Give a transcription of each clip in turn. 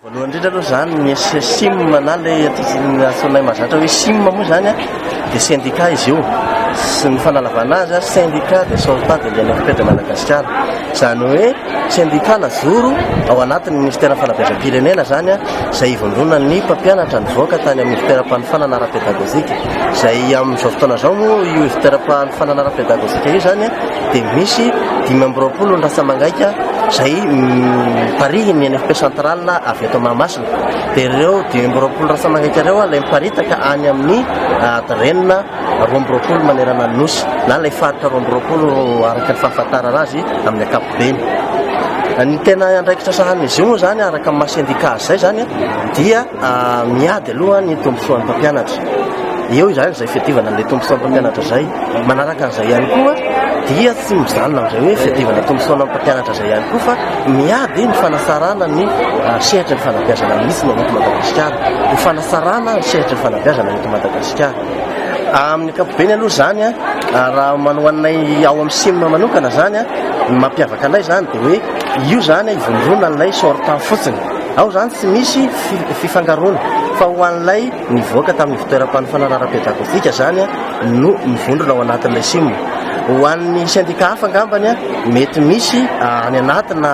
Voalohany indrindra aloha izany ny SSIM na ilay antsoinay mazatra hoe SIM moa izany dia syndicat izy io sy ny fanalavana azy syndicat de sauvetat de l'INFP de Madagasikara izany hoe syndicat najoro ao anatin'ny ministère fanabeazam-pirenena izany izay ivondronan'ny mpampianatra nivoaka tany amin'ny fitoeram-panofanana ara-pedagogika izay amin'izao fotoana izao moa io fitoeram-panofanana ara-pedagogika io izany dia misy dimy amby roapolo ny ratsamangaika izay miparihy ny NFP central avy eto Mahamasina. Dia ireo dimy amby roapolo ratsamangaika ireo ilay miparitaka any amin'ny adirenina roa amby roapolo manerana ny nosy na ilay faritra roa amby roapolo araka ny fahafantarana azy amin'ny ankapobeny. Ny tena andraikitra sahanin'izy io moa izany araka ny maha sendika azy izay izany dia Miady aloha ny tombontsoan'ny mpampianatra. Eo izany izay fiadivana an'ilay tombontsoan'ny mpampianatra izay. Manaraka an'izay ihany koa dia tsy mijanona amin'izay hoe fiadivana tombontsoana amin'ny mpampianatra izay ihany koa fa miady ny fanasarana ny sehatry ny fanabeazana misy ny eto Madagasikara. Ho fanasarana ny sehatry ny fanabeazana eto Madagasikara. Amin'ny ankapobeny aloha izany raha ho anay ao amin'ny Sim manokana izany, ny mampiavaka anay izany dia hoe io izany ivondronan'ilay sortant fotsiny. Ao izany tsy misy fifangaroana fa ho an'ilay nivoaka tamin'ny ivontoeram-panofanana ara-pedagojika izany no mivondrona ao anatin'ilay sim. Ho an'ny sendika hafa angambany mety misy any anatina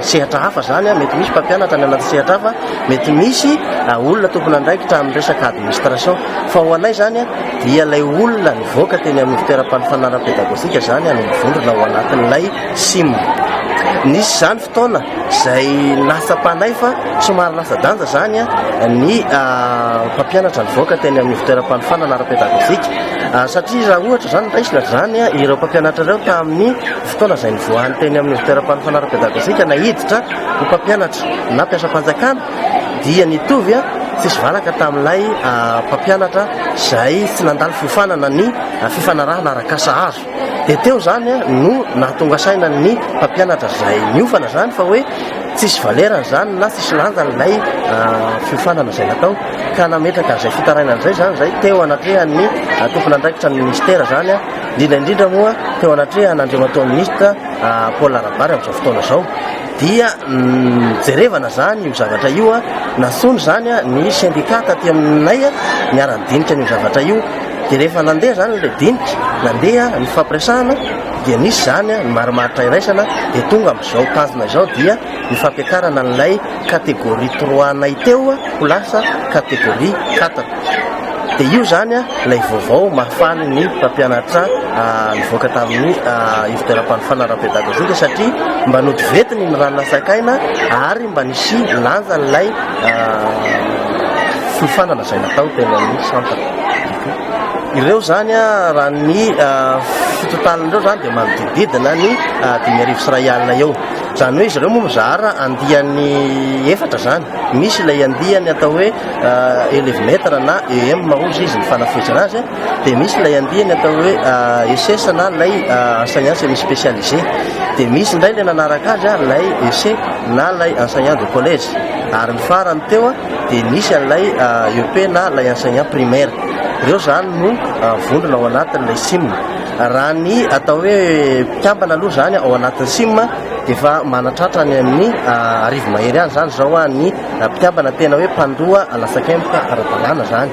sehatra hafa izany, mety misy mpampianatra any anaty sehatra hafa, mety misy olona tompon'andraikitra amin'ny resaka administration. Fa ho anay izany dia ilay olona nivoaka teny amin'ny ivontoeram-panofanana ara-pedagojika izany no mivondrona ao anatin'ilay sim. Nisy izany. taona izay latsapanay fa somary latsa-danja izany ny mpampianatra nivoaka teny amin'ny fitoeram-panofanana ara-pedagojika satria raha ohatra izany raisina izany ireo mpampianatra ireo tamin'ny fotoana izay nivoahany teny amin'ny fitoeram-panofanana ara-pedagojika na hiditra ho mpampianatra na mpiasam-panjakana dia nitovy a tsisy valaka tamin'ilay mpampianatra izay tsy nandalo fiofanana ny fifanarahana arak'asa azo Dia teo izany no nahatonga saina ny mpampianatra izay niofana izany fa hoe tsisy valerany izany na tsisy lanjany ilay fiofanana izay natao ka nametraka an'izay fitarainana izay izany izay teo anatrehan'ny tompon'andraikitra ny ministera izany indrindra indrindra moa teo anatrehan' Andriamatoa Minisitra Paul Rabary amin'izao fotoana izao dia jerevana izany io zavatra io a nantsoina izany ny sendika taty aminay niara-nidinika an'io zavatra io Dia rehefa nandeha izany ilay dinika, nandeha ny fampiresahana, dia nisy izany ny marimaritra iraisana, dia tonga amin'izao tazona izao dia ny fampiakarana an'ilay catégorie trois-nay teo ho lasa catégorie quatre. Dia io izany ilay vaovao mahafaly ny mpampianatra nivoaka tamin'ny ivoteram-panofanana ara-pédagogique satria mba nody ventiny ny rà nasaikaina ary mba nisy lanjan'ilay fiofanana izay natao teny amin'ny centre. Ireo izany raha ny fotontaniny ireo izany dia manodidididina ny dimy arivo sy iray alina eo. Izany hoe izy ireo moa mizara andiany efatra izany. Misy ilay andiany atao hoe elevy metre na EM hoy izy ny fanafohezana azy, dia misy ilay andiany atao hoe ESS na ilay enseignant semi spécialisé, dia misy indray ilay nanaraka azy ilay EC na ilay enseignant de collège ary ny farany teo dia misy an'ilay EEP na ilay enseignant primaire. Ireo izany no vondrona ao anatin'ilay CIM. Raha ny atao hoe mpikambana aloha izany ao anatin'ny CIM dia efa manatratra any amin'ny arivo mahery any izany izao ny mpikambana tena hoe mpandoa latsakemboka ara-dalàna izany.